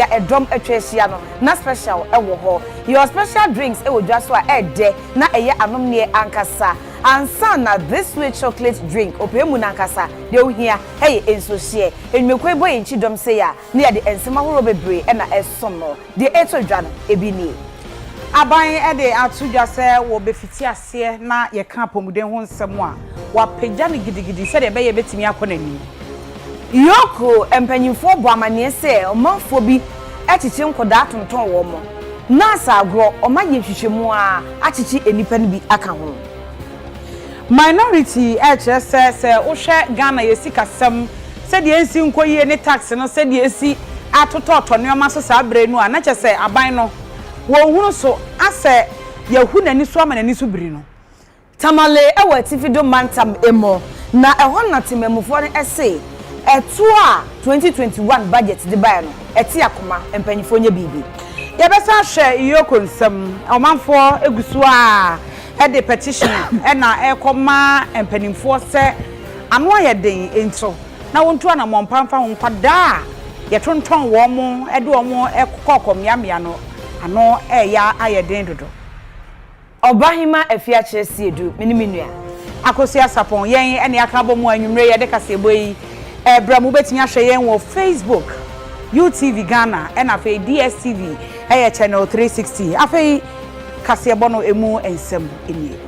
a ɛdɔm atwa ahyia no na special wɔ hɔ. Yɛwɔ special drinks wɔ dwa so a ɛɛdɛ na ɛyɛ anomneɛ ankasa ansa na this sweet chocolate drink ɔpɛ mu no ankasa deɛ wohia yɛ nsuohyeɛ. Nnwumakuo yi bɔ yɛn kyidɔm sei a na yɛde nsɛm ahoroɔ bebree na ɛresom no. Deɛ ɛtɔ dwa no ebi nie. Aban de ato dwa sɛ wɔbɛfiti ase. aseɛ na yɛka apɔmuden ho nsɛm a, wɔapagya no gidigidi sɛdeɛ ɛbɛyɛ ɛbɛtumi akɔ n'anim. York mpanimfoɔ bɔ amanneɛ sɛ ɔmanfoɔ bi akyekye nkwadaa atontɔn wɔn, nurse agorɔ, wɔayɛ nhwehwɛmu ara akyekye nnipa no bi aka ho. Minority ɛrekyerɛ sɛ, sɛ wohwɛ Ghana yɛn sikasɛm sɛdeɛ ɛnsi nkɔ yie ne tax no sɛdeɛ ɛsi atotɔɔtɔ nneɛma so saa berɛ no a, na kyerɛ sɛ aban no wɔnhunu so asɛ. Yɛahu n'ani so ama n'ani so biri no. Tamale wɔ Atifi Dome Mantam mu, na ɛhɔ na temammufoɔ no se ɛtoɔ a twenty twenty one budget de baeɛ no ɛte akoma, mpaninfoɔ nyɛ biribi. Yɛbɛsan ahwɛ Yoko nsɛm, ɔmanfoɔ gu so ara de petition na ɛrekɔma mpaninfoɔ sɛ ano ayɛ den nti na wɔntu anammɔn pa mfa ho. Nkwadaa a yɛtontɔn wɔn de wɔn kɔ ɔkɔmmeammea no, Ano reyɛ ayɛ den dodo. Ɔbahema Afiakyerɛ Siedu, me ne me nua. Akosua Sarpong, yɛn ne aka abɔ mu a anwummere yi yɛde kaseɛbɔ yi rebrɛ mo. Wobɛtumi ahwɛ yɛn wɔ Facebook, UTV Ghana ɛna afei DSTV ɛyɛ channel three sixty. Afei kaseɛbɔ no ɛmu nsɛm nie.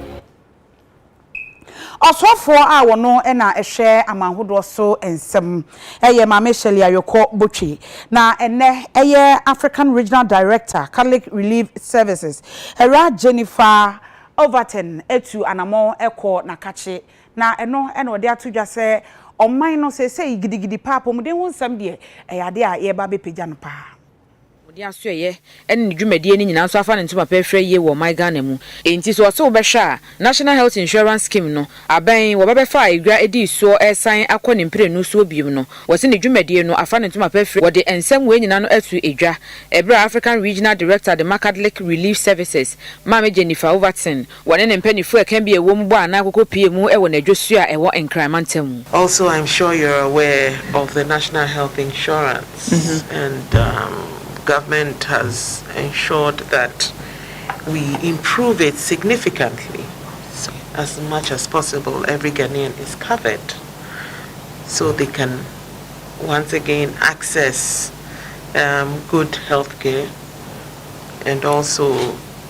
Ɔsoafoɔ a ɔno na ɛhwɛ amanhodoɔ so nsɛm yɛ Maame Shirley Ayokor Botwe, na ɛnnɛ ɛyɛ African Regional Director, Catholic Relief Services. Awuraa Jennifer Overton atu anamɔn kɔ Nakakye, na ɛno na ɔde ato dwa sɛ ɔman no seesei gidigidi paa apɔmuden ho nsɛm deɛ, ɛyɛ adeɛ a yɛreba abɛpagya no paa. Wɔde asoɛeɛ ne ne dwumadie no nyinaa nso afa ne ntoma pɛ hwɛ yie wɔ ɔman Ghana mu. Enti sɛ ɔse wobɛhwɛ a, National Health Insurance Scheme no, abɛn wɔbɛbɛfa a edwa dii soɔ resan akɔ ne mprenu soɔ biom no, wɔse ne dwumadie no afa ne ntoma pɛ firi wɔde nsɛm wei nyinaa no ato edwa. Ɛberɛ a African Regional Director de ma Catholic Relief Services, Maame Jennifer Overton, Wɔne ne mpanyinfo ɛka bi a ɛwɔ mu bɔ anaa koko pie mu wɔ n'adwosuo a ɛwɔ Nkran mantam mu. Also I'm sure you're aware of the National Health Insurance and government has ensured that we improve it significantly as much as possible every Ghanaian is covered so they can once again access good healthcare and also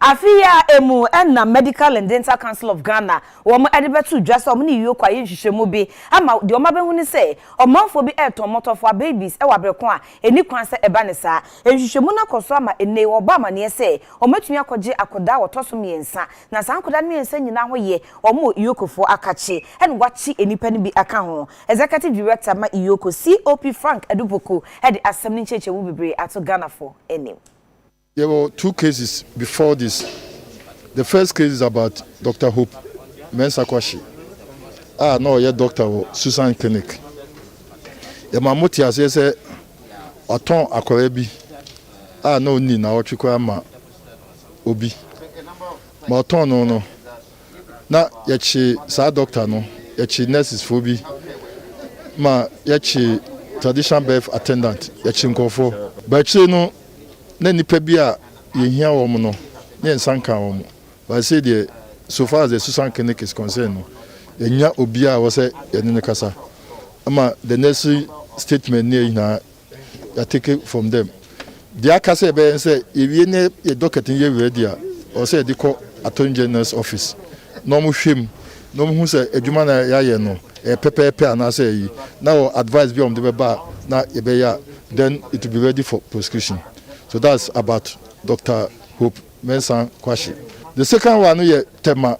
Afe yi ara emu na Medical and Dental Council of Ghana wɔn de bɛto dwa sɛ wɔn ne Ioko ayɛ nhwehwɛmu bi ama deɛ wɔn abɛhu ne sɛ ɔmanfoɔ bi retɔn mmɔtɔfowa, babies, wɔ abrɛ ko a ɛnni kwan sɛ ɛba ne saa. Nhwehwɛmu no akɔ so ama ɛnnɛ yi wɔbɔ amaneɛ sɛ wɔatumi akɔgye akwadaa a wɔtɔ so mmiɛnsa na saa nkwadaa no mmiɛnsa nyinaa ho yɛ wɔn wɔ Iokofoɔ akakye ɛna wɔakye nnipa no bi aka ho. Executive Director ma Ioko, COP Frank Adupoku de asɛm no nkyerɛkyerɛmu bebree ato Ghanafoɔ anim. Yɛwɔ two cases before this, the first case is about Doctor Hope Mensah Kwashe a na ɔyɛ doctor wɔ Susan Clinic. Yɛma mo te aseɛ sɛ watɔn akwadaa bi a na ɔnni nnawɔtwe koraa ma obi. Ma ɔtɔn no no, na yɛkye saa doctor no, yɛkye nurses foɔ bi ma yɛkye traditional birth attendant, yɛkye nkurɔfoɔ. But akyire no, na nnipa bi a yɛhia wɔn no, na yɛn nsa nkaa wɔn. But sei deɛ, so far as the Susan Clinic is concerned no, yɛnya obiara a ɛwɔ sɛ yɛne no kasa. Ɛma the necessary statement ne yɛ nyinaa yɛatake from them. Deɛ aka sɛ yɛbɛyɛ ne sɛ, yɛwie ne yɛ docket no yɛ ready a, ɛwɔ sɛ yɛde kɔ Attorney General's office. na wɔhwɛ mu na wɔhu sɛ adwuma no a yɛayɛ no ɛyɛ pɛpɛɛpɛ anaasɛ ayi na wɔ advice bi a wɔde bɛba a na yɛbɛyɛ a then it will be ready for prosecution so that's about Doctor Hope Mensah Kwashe the second one no yɛ Tema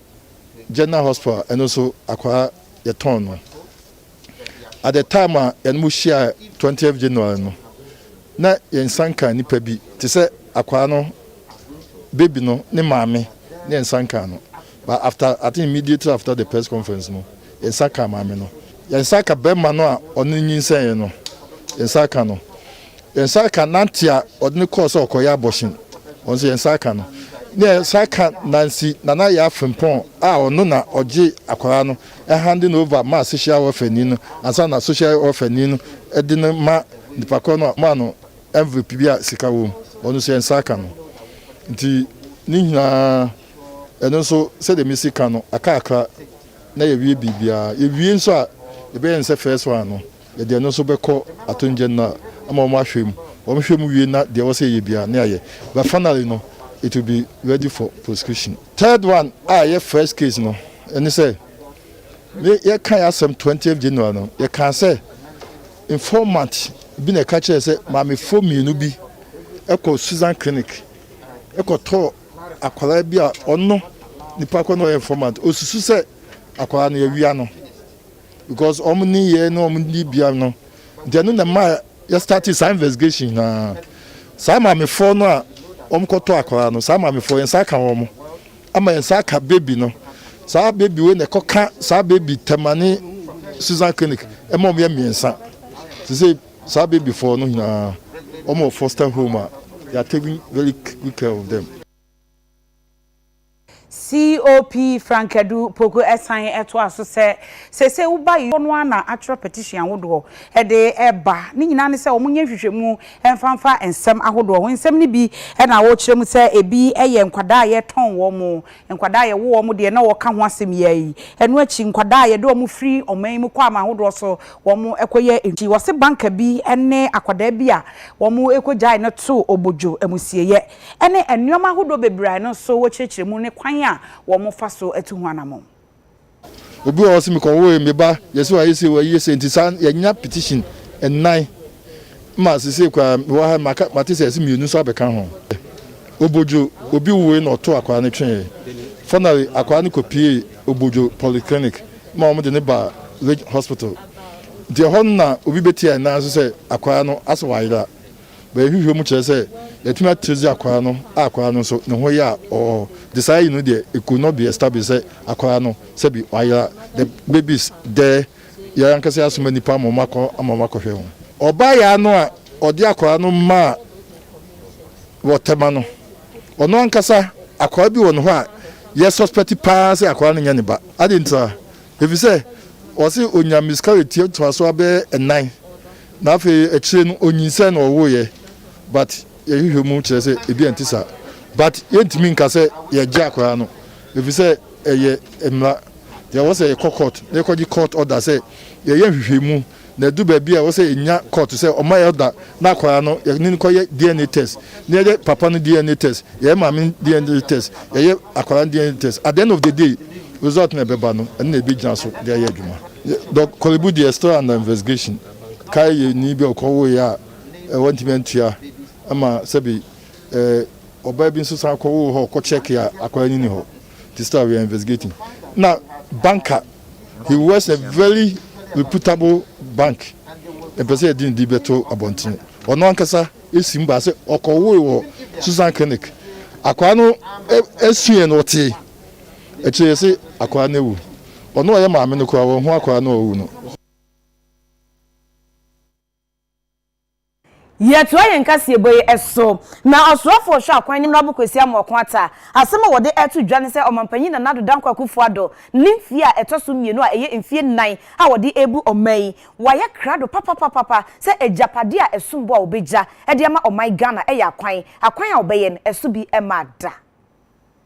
General Hospital ɛno nso akwaa yɛtɔn no at the time a yɛne mo hyiae twentieth January no, na yɛn nsa nkaa nnipa bi, te sɛ akwaa no, baby no, ne maame, na yɛn nsa nkaa no. But after, I think immediately after the press conference no, yɛn nsa kaa maame no. Yɛn nsa aka barima no a ɔne no nyinsɛnee no, yɛn nsa aka no. Yɛn nsa aka n'ante a ɔde no kɔɔ sɛ ɔkɔyɛ abortion, ɔno nso yɛn nsa aka no. Na yɛn nsa aka Nancy Nana Yaa Frimpong a ɔno na ɔgyee akwaa no handing over ma social welfare ni no ansa na social welfare ni no de no ma nipa korɔ no a wɔma no envelope bi a sika wɔ mu, ɔno nso yɛn nsa aka no. Nti ne nyinaa ɛno nso sɛdeɛ mesi ka no akakra na yɛawie biribiara. Yɛwie nso a yɛbɛyɛ no sɛ first one no. Yɛde ɛno nso bɛkɔ atonngya no ama wɔahwɛ mu. Wɔhwɛ mu wie na deɛ ɛwɔ sɛ yɛyɛ biara, na yɛayɛ. But finally no, it will be ready for prosecution. Third one a ɛyɛ first case no, ɛne sɛ, me yɛkaeɛ asɛm twentieth January no, yɛkaa sɛ informant bi na ɛka kyerɛɛ sɛ maamefoɔ mmienu bi kɔɔ Susan Clinic kɔtɔɔ akwadaa bi a ɔno nipa korɔ no ɔyɛ informant. Ɔsusu sɛ akwadaa no yɛawia no. because wɔn nneyɛɛ ne wɔn dibea no nti ɛno na ɛma yɛ start saa investigation nyinaa saa maamefoɔ no a wɔn kɔtɔ akwadaa no saa maamefoɔ yɛn nsa ka wɔn ama yɛn nsa ka baby no saa baby wei na ɛkɔka saa baby tɛmane Susan clinic ɛma wɔn yɛ mmiɛnsa te sɛ saa babyfoɔ no nyinaa wɔn wɔ foster home a yɛatake very good care of them. COP Frankedu Poku san toa so sɛ, Seesei woba yi dodoɔ no ara na atwerɛ petition ahodoɔ de reba. Ne nyinaa ne sɛ wɔnyɛ nhwehwɛmu mfa mfa nsɛm ahodoɔ ho. Nsɛm no bi na wɔkyerɛ mu sɛ ebi yɛ nkwadaa a yɛtɔn wɔn, nkwadaa a yɛwo wɔn deɛ na wɔka ho asɛm yi ara yi. Ɛno akyi, nkwadaa a yɛde wɔn firi ɔman yi mu kɔ aman ahodoɔ so kɔyɛ adwuma. Wɔse banker bi ne akwadaa bi a wɔkɔgyae no too obodwo, amusieyɛ. ne nneɛma ahodoɔ bebree a ɛno nso wɔkyerɛkyerɛ mu ne kwan a wɔfa so tu ho anammɔn. Obi wɔ hɔ ɔse mekɔwoe meba yɛse wayɛ sei wayɛ sei nti saa yɛanya petition nnan ma sesei koraa mewɔ ha maka mate sɛ ɛse mmienu nso abɛka ho. Obodwo obi woe na ɔto akwaa no tweeɛ finally akwaa no kɔpiee Obodwo polyclinic ma wɔn de no baa Ridge hospital nti ɛhɔ no na obi bɛtiaɛ nan so sɛ akwaa no asɛ wayera. Bɛyɛ nhwehwɛmu kyerɛ sɛ yɛatumi atrɛsi akwadaa no a akwadaa no nso ne ho yɛ a ɔɔ de saa ayi no deɛ it could not be established sɛ akwadaa no sɛbi ɔayera the babies there yɛn ankasa yɛasoma nnipa ama wɔn akɔ ama wɔn akɔhwɛ ho. Ɔbaayaa no a ɔde akwadaa no maa wɔ Tema no ɔno ankasa akwadaa bi wɔ ne hɔ a yɛ suspect pa ara sɛ akwadaa no nyɛ ne ba adɛn ntia efisɛ ɔse onya miscarriage tiatoa so abɛyɛ nnan Na afei akyire no ɔnyinsɛn na ɔwoeɛ but yɛhwehwɛ mu kyerɛ sɛ ebi a ɛnte saa but yɛntumi nka sɛ yɛgye akwadaa no ɛfiri sɛ ɛyɛ mmara yɛwɔ sɛ yɛkɔ court na yɛkɔgye court order sɛ yɛyɛ nhwehwɛmu na ɛdu baabi a ɛwɔ sɛ yɛnya court sɛ ɔma yɛ order na akwadaa no yɛne no kɔyɛ DNA test na yɛyɛ papa no DNA test yɛyɛ maame DNA test yɛyɛ akwadaa no DNA test at the end of the day result na ɛbɛba no ɛno na ɛbɛgyina so de ayɛ adwuma. Yɛ Dɔk Korlebu deɛ still under investigation. Kae yɛ ni bi a ɔkɔ wo yɛ a wantumi antua ɛma sɛbi ɛɛ ɔbaa bi nso san kɔ wo hɔ ɔkɔ check yɛ a akwadaa ni ni hɔ nti still we are investigating na banker he was a very reputable bank ɛmpɛ sɛ yɛde ne di bɛto abɔntene ɔno ankasa esi mu baa sɛ ɔkɔ wo wɔ Susan clinic akwadaa no ɛɛ ɛsuɛ no ɔtee. Akyire yi ɔse akwadaa no awu. Ɔno a ɔyɛ maame no koraa ɔnhu akwadaa no a ɔawu no. Yɛtoa yɛn kaseɛbɔ yi so. Na ɔsoafoɔ ɔhwɛ akwan no mmrabɔ Kwasi Amoako Atta. Asɛm a wɔde reto dwa ne sɛ ɔmanpanyin Nana Addo Dankwa Akufo Addo ne mfeɛ a ɛtɔ so mmienu a ɛyɛ mfeɛ nnan a wɔde rebu ɔman yi, wɔayɛ krado papapapapa sɛ agyapadeɛ a ɛsombo a wɔbɛgya de ama ɔman Ghana yɛ akwan, akwan a wɔbɛyɛ no ɛso bi mmaa da.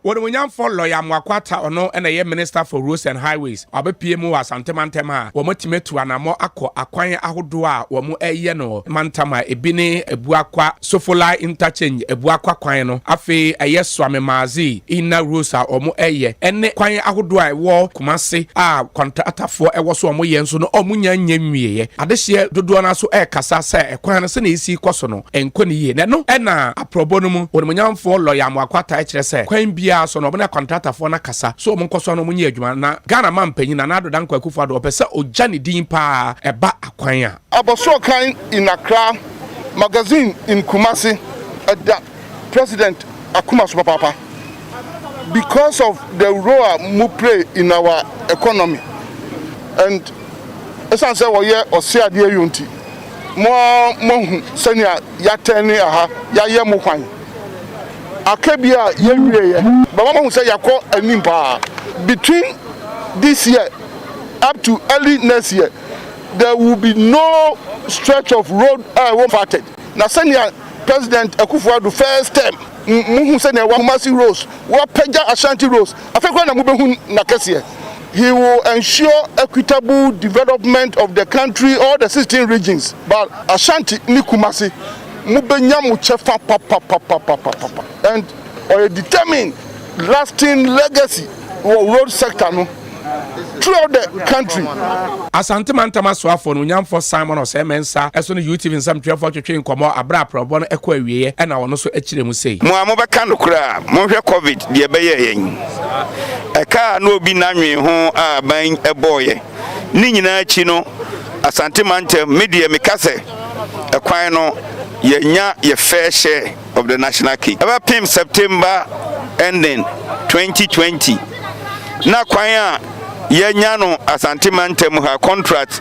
Onimuonyamfo Lawyer Amoako-Atta ɔno na ɛyɛ Minister for Roads and Highways, ɔabɛpue mu wɔ Asante mantam a wɔatumi atu anamɔ akɔ akwan ahodoɔ a wɔayɛ no mantam a ɛbi ne Abuakwa, Sofolai Interchange, Abuakwa kwan no, afei ɛyɛ Suame Maazi inner roads a wɔayɛ ɛne kwan ahodoɔ a ɛwɔ Kumasi a kɔntratafoɔ wɔ so a wɔyɛ nso no wɔnnya nyɛ nwieɛ. Adehyeɛ dodoɔ no ara nso rekasa sɛ kwan no sɛdeɛ ɛresi rekɔ so no, Ɛnkɔ no yie. Na ɛno na aprɔbɔ no mu onimuonyamfoɔ Lɔya Amoako taa kyerɛ sɛ kwan biara so no wɔne akwantratafoɔ no akasa so wɔn nkɔsoɔ na wɔn nyɛ adwuma. Na Ghana manpanyin Nana Addo Dankwa Akufo Addo ɔpɛ sɛ ɔgya ne din paa ɛba akwan a. Abɔsoɔ kan in Accra magazine in Kumasi ɛda President akoma so papaapa because of the role a mo play in our economy and ɛsiane sɛ wɔyɛ ɔseɛ adeɛ yɔ nti. Mo ara moahu sɛnea yɛatɛn ne aha yɛayɛ mo hwann. Aka bi a yɛnwieeɛ bɛma moahu sɛ yɛakɔ anim paa. Between this year up to early next year, there will be no stretch of road a ɛwɔ mu parted. Na sɛnea President Akuffo Addo first term, mohu sɛnea Kumasi roads, wɔapagya Ashanti roads, afei koraa na mobɛhu n'akɛseɛ. He will ensure equitable development of the country, all the sixteen regions, but Ashanti ne Kumasi, mo bɛ nya mo kyɛfa papapapapapapa, and ɔyɛ determined lasting legacy wɔ road sector no throughout the country. Asante Mantam Asoafoɔ no Onyamfoɔ Simon Osei Mensah ɛso ne UTV nsɛmtwerɛfoɔ twetwee nkɔmmɔ aberɛ a prɛwbɔ no ɛkɔ awieɛ ɛna ɔno nso ɛkyerɛ mu sei. Mo a mobɛka nokorɛ a, monhwɛ covid deɛ ɛbɛyɛɛ yɛn. Ɛka a na obi nnanwen ho a aban bɔeɛ. Ne nyinaa akyi no, Asante mantam, me deɛ meka sɛ ɛkwan no yɛanya yɛ fair share of the national cake. Ɛbɛpem September ending 2020, na kwan a yɛanya no Asante mantam ha, contract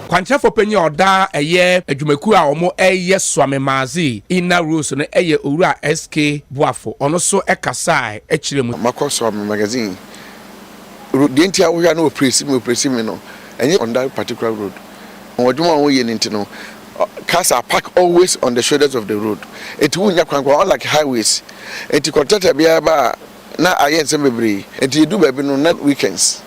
Kwankyerɛfoɔ panyin a ɔda ɛyɛ adwumakuo a wɔyɛ Swami Mazi inner rules no yɛ Owura SK Boafo, ɔno nso kasae kyerɛ mu. Makɔ Swami Magazine road deɛ nti a wohwɛ a na wɔpresi me wɔpresi me no ɛnyɛ on that particular road wɔn adwuma a wɔyɛ no nti no cars are parked always on the shoulders of the road ɛnti wonnya kwan koraa unlike highways ɛnti contractor biara ba a na ayɛ nsɛm bebree enti yɛduu baabi no na weekends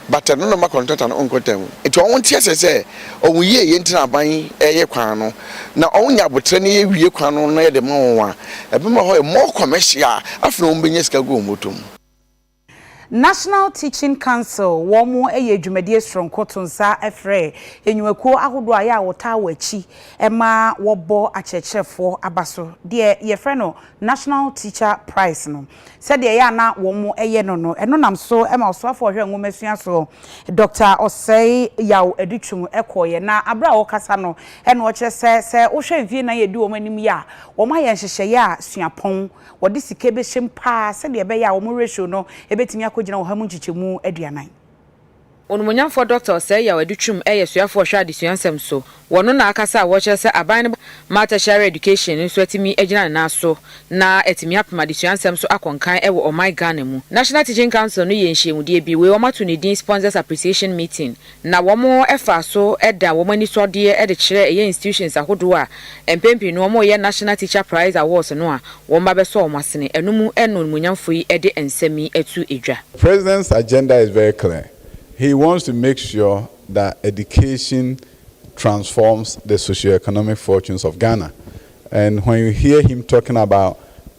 but no na ɔma kɔntratɔ no nkɔ ntɛm enti wɔn nte aseɛ sɛ wɔn yie yɛ nti na aban ɛyɛ kwan no na wɔn nya abotrɛ na yɛwie kwan no na yɛde ma wɔn a ɛbɛma hɔ ayɛ more commercial afei na wɔn bɛnya sika agu wɔn bɔtɔ mu. National Teaching Council wɔn yɛ dwumadie soronko to nsa frɛ nnwumakuo ahodoɔ a yɛ a wɔtaa wɔ akyi ma wɔbɔ akyerɛkyerɛfoɔ aba so deɛ yɛfrɛ no National Teacher Prize no sɛdeɛ ɛyɛ a na wɔyɛ no no, ɛno nam so ma Ɔsoafoɔ a Ɔhwɛ Nwomasua soɔ, Dɔkta Osei Yaw Adutwum kɔeɛ, na berɛ a ɔrekasa no na ɔkyerɛ sɛ, sɛ wohwɛ mfeɛ nnan a ɛdi wɔn anim yi a, wɔayɛ nhyehyɛeɛ a suapɔn, wɔde sika bɛhyɛ mu pa ara sɛdeɛ ɛbɛyɛ a wɔn ratio no bɛtumi akɔgyina ɔha mu nkyekyɛmu aduanan. Onumonyamfoɔ Dɔkta Osei Yaw Adu Twum yɛ suafoɔ a ɔhwɛ adesua nsɛm so wɔ no na akasa a wɔrekyerɛ sɛ aban no ma tertiary education nso atumi agyina ne nan so na atumi apem adesua nsɛm so akɔ nkan wɔ ɔman Ghana mu. National Teaching Council no yɛɛ nhyiamudeɛ bi, wei wɔato ne din Sponsors Appreciation Meeting, na wɔfaa so daa wɔn anisɔdeɛ de kyerɛɛ ɛyɛ institutions ahodoɔ a Mpɛn pii no wɔn a wɔyɛ National Teacher Prize Awards no a wɔn mma bɛsɔ wɔn asene ɛno mu no animuonyamfo yi de nsɛm yi to dwa. President's agenda is very clear, he wants to make sure that education transforms the socio-economic fortunes of Ghana and when you hear him talking about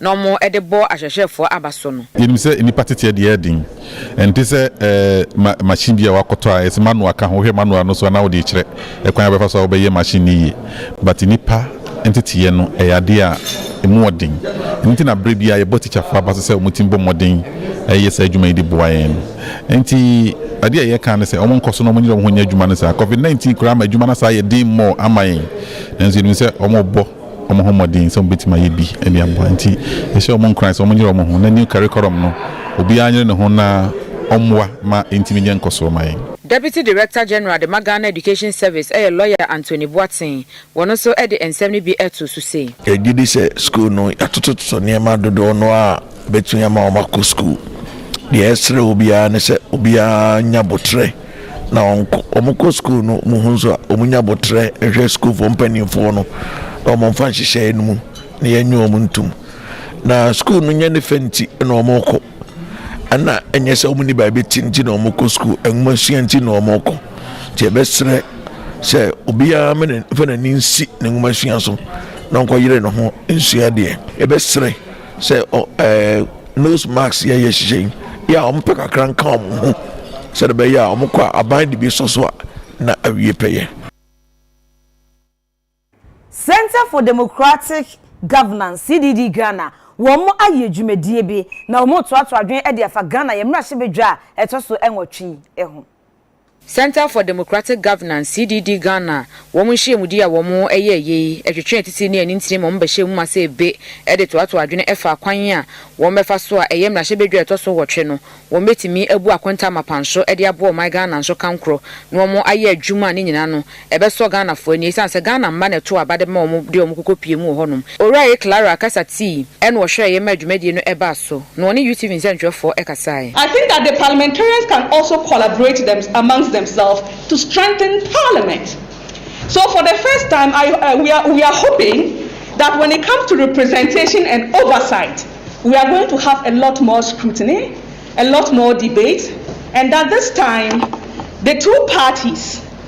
na wɔde bɔ ahwɛhwɛfoɔ aba so no. Yɛnim sɛ nnipa teteɛ deɛ yɛ den, ɛnte sɛ machine bi a woakɔtɔ a yɛsɛ manual ka ho, wohwɛ manual no so a na wode rekyerɛ kwan a wobɛfa so a wobɛyɛ machine no yie but nnipa nteteɛ no ɛyɛ adeɛ a ɛmu wɔ den, ɛno nti na berɛ biara yɛbɔ tikyafoɔ aba so sɛ wɔtumi bɔ mmɔden yɛ saa adwuma yi de boa yɛn no. Ɛnti adeɛ a yɛka ne sɛ wɔnkɔ so na wɔnyere wɔn ho nyɛ adwuma no saa, covid 19 koraa ama adwuma no asan ayɛ den more ama yɛn nanso yɛnim sɛ wɔrebɔ. wɔn ho mmɔden sɛ wɔbɛtumi ayɛ bi de aboa nti yɛhyɛ wɔn nkuran sɛ wɔnyere wɔn ho na new curriculum no obiara nyere ne ho na ɔmmoa ma ɛntumi nyɛ nkɔsoɔ ma yɛn. Deputy Director General de ma Ghana Education Service ɛyɛ Lawyer Anthony Boateng, wɔn nso de nsɛm no bi ɛtoo so sei. Yɛgye di sɛ sukuu no yɛatotototo nneɛma dodoɔ no ara a Ɛbɛtumi ama wɔakɔ sukuu. Deɛ yɛsrɛ obi ara ne sɛ obiara nya boterɛ na ɔnkɔ. Wɔkɔ sukuu no, wɔhu nso a, wɔnya boterɛ nhwɛ sukuufoɔ mpanimfoɔ no na wɔmfa nhyehyɛeɛ no mu na yɛnye wɔn ntom. Na sukuu no nyɛ ne fɛ nti na wɔkɔ. Ɛna ɛnyɛ sɛ wɔnni baabi te nti na wɔkɔ sukuu. Nwoma sua nti na wɔkɔ. Nti yɛbɛsrɛ sɛ obiara mfa n'ani nsi ne nwoma sua so na ɔnkɔyere ne ho nsua deɛ. Yɛbɛsrɛ sɛ ɔ ɛɛ nose mask yɛ yɛ hyehyɛ yi yɛ a wɔpɛ kakra nka wɔn ho sɛdeɛ ɛbɛyɛ a wɔkɔ a aban de bi sɔ so a na awie pɛyɛ. Centre for Democratic Governance, CDD, Ghana, wɔn ayɛ dwumadie bi na wɔretoatoa adwene de afa Ghana yɛn mmarahyɛbadwa a ɛtɔ so nwɔtwe yi ho. Centre for Democratic Governance, CDD, Ghana wɔn nhyiamudi a wɔn yɛɛ yɛ yi ɛtwetwe atitire ne anintire ma wɔn bɛhyɛɛ mu ma sɛ ebe de toatoa adwene ɛfa akwan a wɔn bɛfa so a ɛyɛ mmarahyɛbadwa a ɛtɔ so ɔwɔtwe no wɔn bɛtumi abu akonta mapan so de aboa ɔman Ghana nso kankorɔ na wɔn ayɛ adwuma a ne nyinaa no ɛbɛsɔ Ghanafoɔ ani ɛsiane sɛ Ghana mma na ɛtoo aba de ma wɔn de wɔn kɔkɔ pue mu wɔ hɔnom. Owura Ye Clara kasa tii ɛna ɔhwɛeɛ maa dwumadie no ɛbaa so na ɔne UTV nsɛntwerɛfoɔ ɛkasaaɛ. I think that the parliamentarians can also collaborate them amongst themselves to strengthen parliament so for the first time I we are we are hoping that when it comes to representation and oversight we are going to have a lot more scrutiny a lot more debate and that this time the two parties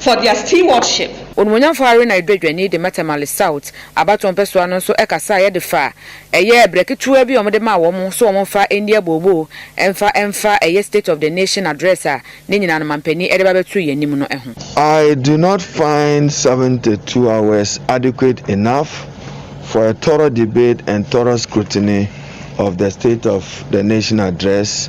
for their stewardship. Onumunyamfo Haruna Edwajwani de Mata Male South abatoɔ mpɛsoa no nso kasaeɛ de faa ɛyɛ brɛ ketewa bi a wɔde maa wɔn sɛ wɔmfa nni abooboo mfa mfa ɛyɛ State of the Nation Address a ne nyinaa no mampanin de ba bɛtoo yɛn anim no ho. I do not find seventy two hours adequate enough for a thorough debate and thorough scrutiny of the State of the Nation Address,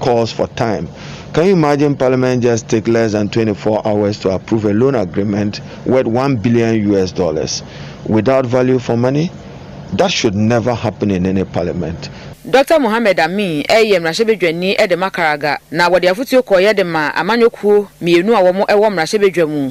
Calls for time, Can you imagine parliament just take less than twenty four hours to approve a loan agreement worth one billion US dollars without value for money? That should never happen in any parliament. Dɔkta Mohammed Amin yɛ mmarahyɛbadwani de ma Karaga, na wɔde afotuo kɔeɛ de maa amanyɔkuo mmienu a wɔwɔ mmarahyɛbadwa mu.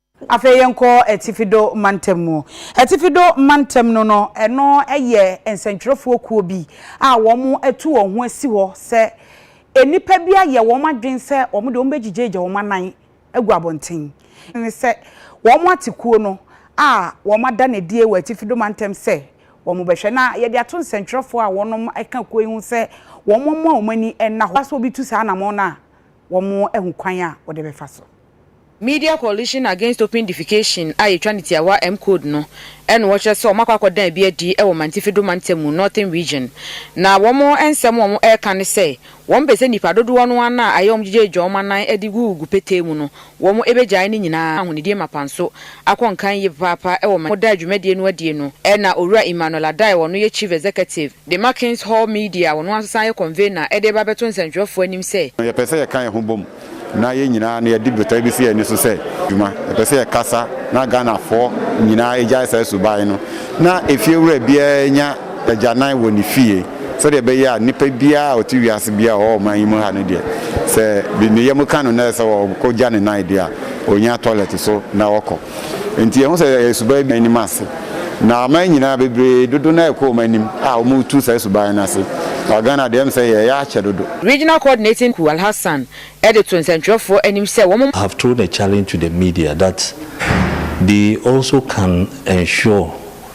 Afei yɛnkɔ Atifi Do Mantam mu. Atifi Do Mantam no no, ɛno yɛ nsɛntwerɛfoɔ kuo bi a wɔatu wɔn ho asi hɔ sɛ nnipa bi ayɛ wɔn adwene sɛ wɔn deɛ wɔbɛgyigyaagya wɔn anan agu abɔnten. Ne sɛ wɔate kuo no a wɔada no adie wɔ Atifi Do Mantam sɛ wɔbɛhwɛ. Na yɛde ato nsɛntwerɛfoɔ a wɔka kuo yi ho sɛ wɔmmoa wɔn ani nna hɔ. Sɛ obi tu saa anamɔn no a, wɔahu kwan a wɔde bɛfa so. Media Coalition Against Open Defecation a yɛtwa no tiawa MCODE no na wɔkyerɛ sɛ wɔakɔ akɔda bi adi wɔ Mantifido mantam mu, Northern Region, na wɔn nsɛm a wɔreka ne sɛ wɔn pɛ sɛ nnipa dodoɔ no ara no a ayɛ wɔn gyigyaagya wɔn anan de gugugu petee mu no wɔbɛgyae ne nyinaa ahonidie mapa nso akɔ nkan yie papaapa wɔ Mantifido. Wɔda dwumadie no adie no na Owura Emmanuel Addae a ɔno yɛ Chief Executive De ma King's Hall Media, ɔno ara nso san yɛ convener de reba abɛto nsɛntwerɛfoɔ anim sɛ. Yɛpɛ sɛ yɛka yɛn ho bom na yɛn nyinaa na yɛde botae bi si yɛn ani so sɛ dwuma. Yɛpɛ sɛ yɛkasa na Ghanafoɔ nyinaa gyae saa suban no na efiewura biara nya agyanan wɔ ne fie sɛdeɛ ɛbɛyɛ a nipa biara a ɔte wiase biara a ɔwɔ ɔman yi mu ha no deɛ sɛ ne yam ka no na ɛsɛ sɛ ɔkɔgya ne nan deɛ a, ɔnya toilet so na ɔkɔ. Enti yɛahu sɛ yɛyɛ suban bi anim ase, na aman nyinaa bebree dodo no ara rekɔ wɔn anim a wɔretu saa suban no ase. Wɔ Ghana deɛ, ɛyɛ me sɛ yɛreyɛ akyɛ dodo. Regional Coordinating Ku Alhassan de too nsɛntwerɛfoɔ anim sɛ wɔn. have thrown a challenge to the media that they also can ensure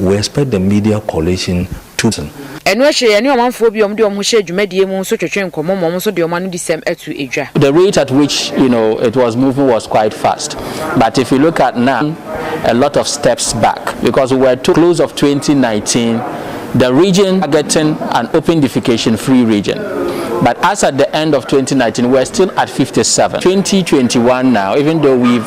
We expect the media coalition to. Ɛno akyire yɛne ɔmanfoɔ bi a wɔde wɔn ho hyɛɛ dwumadie mu nso twetwee nkɔmmɔ ma wɔn nso de wɔn anuodisɛm ato dwa. The rate at which you know it was moving was quite fast but if you look at now a lot of steps back because we were told close of 2019 the region getting an open defecation free region but as at the end of 2019 we were still at 57 2021 now even though we've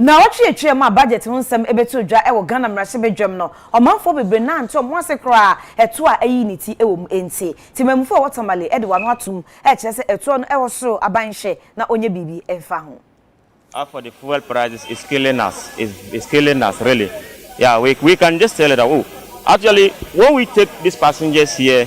Naawɔtwe atwam a budget ho nsɛm bɛtoo dwa wɔ Ghana mmarahyɛbadwam no, ɔmanfoɔ bebree nantee wɔn ase koraa a ɛtoɔ a ayi ne ti wɔ mu nti. Temamufoɔ a ɔwɔ Tamale de wano atom rekyerɛ sɛ ɛtoɔ no wɔ soro, aban nhwɛ na ɔnyɛ biribi mfa ho. As for the fuel prices is killing us is is killing us really yeah we we can just tell it that oh actually when we take this passengers here.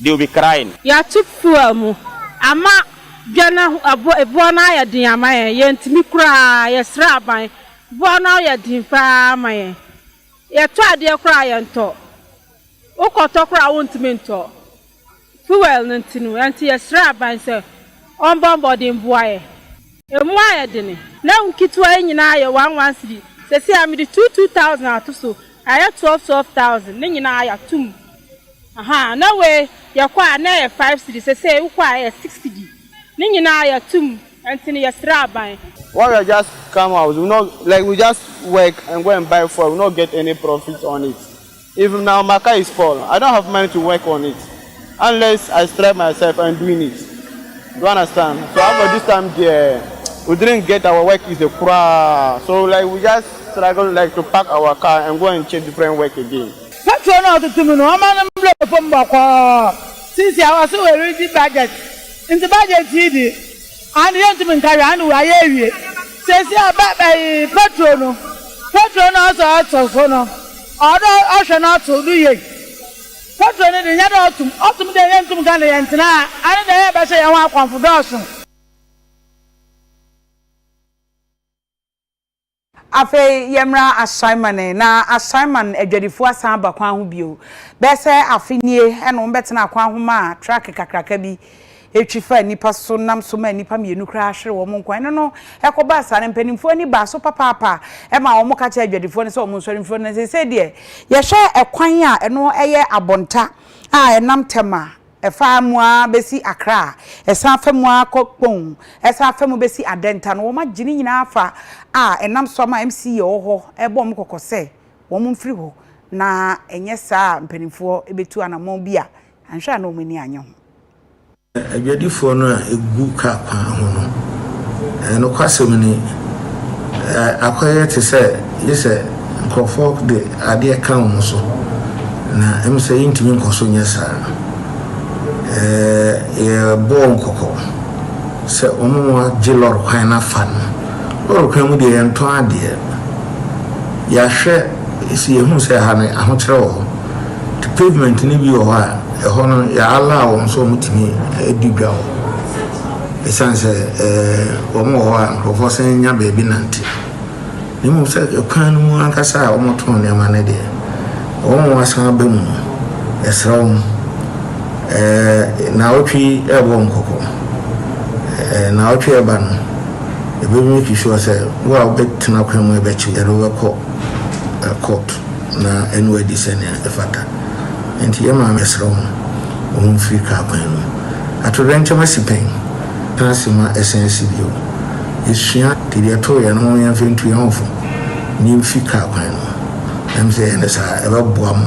They will be crying. Yɛato fuel mu ama dwa no ahu abo eboa no ayɛ den ama yɛn. Yɛntumi koraa. Yɛsrɛ aban. Boa no ayɛ den pa ara ma yɛn. Yɛtɔ adeɛ koraa a, yɛntɔ. Wokɔtɔ koraa a, wontumi ntɔ. Fuel no nti no. Ɛnti yɛsrɛ aban sɛ ɔmbɔ mmɔden mboa yɛn. Ɛmu ayɛ dene. N'ahu nketewa yi nyinaa yɛ one one cedi. Seesei a, mede two two thousand ato so. Ayɛ twelve twelve thousand. Ne nyinaa, yɛato mu. Ahaa na wei yɛkɔ a na ɛyɛ five cedi sesei wokɔ a ɛyɛ six cedi ne nyinaa yɛatum ɛnti no yɛsrɛ aban. Why we just come out we no like we just work and go and buy fuel we no get any profit on it if na my car is spoil I don't have money to work on it unless I stress myself and doing it you understand so as for this time deɛ we didn't get our work is a koraa so like we just struggle like to pack our car and go and check different work again. Petro na ɔtete mu no ɔma no mbrɛ fom bɔkɔɔ. Sisi a wɔse woridzi budget ntsi budget yi dze aane yenntum nka hwee aane woayɛ ewie. Sesi a bɛ bɛye Petro no, Petro na ɔsɛ ɔto so no, ɔwɔ dɛ ɔhwɛ na ɔto do yie. Petro no dze nnyɛ dɛ ɔtom, ɔtom dɛ yenntum nka na yɛntsena a aane dɛ yɛbɛhyɛ hɛnho akɔmfo dɔɔso. Afei yɛmmra Ashaiman ɛ. Ná Ashaiman adwadifo asan aba kwan ho bio. Bɛyɛ sɛ afe nie na wɔbɛtenaa kwan ho maa trake kakraka bi twi faa nnipa so nam so maa nnipa mmienu koraa hweree wɔn nkwa. Ɛno no, ɛkɔbaa saa no, mpanimfoɔ ani baa so papaapa maa wɔka kyerɛɛ adwadifoɔ no sɛ wɔnsɔre mfiri hɔ. Na seesei deɛ, yɛhwɛ ɛkwan a ɛno yɛ abɔnta a ɛnam Tema Ɛfa mu ara bɛsi Akra, ɛsan fa mu ara kɔ Kpong, ɛsan fa mu bɛsi Adenta no, wɔagye ne nyinaa afa a ɛnam so ama MCA a ɔwɔ hɔ rebɔ wɔn kɔkɔ sɛ wɔmfiri hɔ na ɛnyɛ saa a mpanimfoɔ bɛtu anammɔn bi a anhwɛ a na wɔn ani annye ho. Adwadifoɔ no a ɛgu kaa kwan ho no, nokwasɛm ni, akɔyɛ te sɛ gye sɛ Nkurɔfoɔ de adeɛ ka wɔn so, na ɛm sɛ yɛntumi nkɔ so nyɛ saa. Ɛɛ, yɛrebɔ wɔn kɔkɔ sɛ wɔngye lɔre kwan no afa no. Lɔre kwan mu deɛ yɛntɔn adeɛ. Yɛahwɛ sɛ yɛhunu sɛ ha no ahokyerɛ wɔ hɔ. Nti pavement no bi wɔ hɔ a, ɛhɔ no yɛ allow wɔn sɛ wɔtumi di dwa hɔ. Ɛsiane sɛ ɛɛ wɔn wɔ hɔ a nkurɔfoɔ sane nya baabi nante. Na mmom sɛ kwan no mu ankasa a wɔtɔn nneɛma no deɛ, wɔn a wɔasan aba mu no, yɛsrɛ wɔn, ɛɛ, nnawɔtwe yi rebɔ wɔn kɔkɔ. Ɛɛ, nnawɔtwe a ɛreba no, yɛbɛmake sure sɛ wo a wobɛtena kwan mu a ɛbɛkye yɛde wo bɛkɔ court na ɛne wo adi sɛnea ɛfata. Enti yɛn maame yɛsrɛ wɔn, wɔmfiri kaa kwan no mu. Atoyerɛnkyɛm asi pɛn? Tena ase ma ɛsan si bio. Yesua de yɛto yɛn ho yɛn mfɛntu yɛn ho fo na yemfi kar kwan no mu. Ɛwom sɛ yɛyɛ no saa a, ɛbɛboa mo.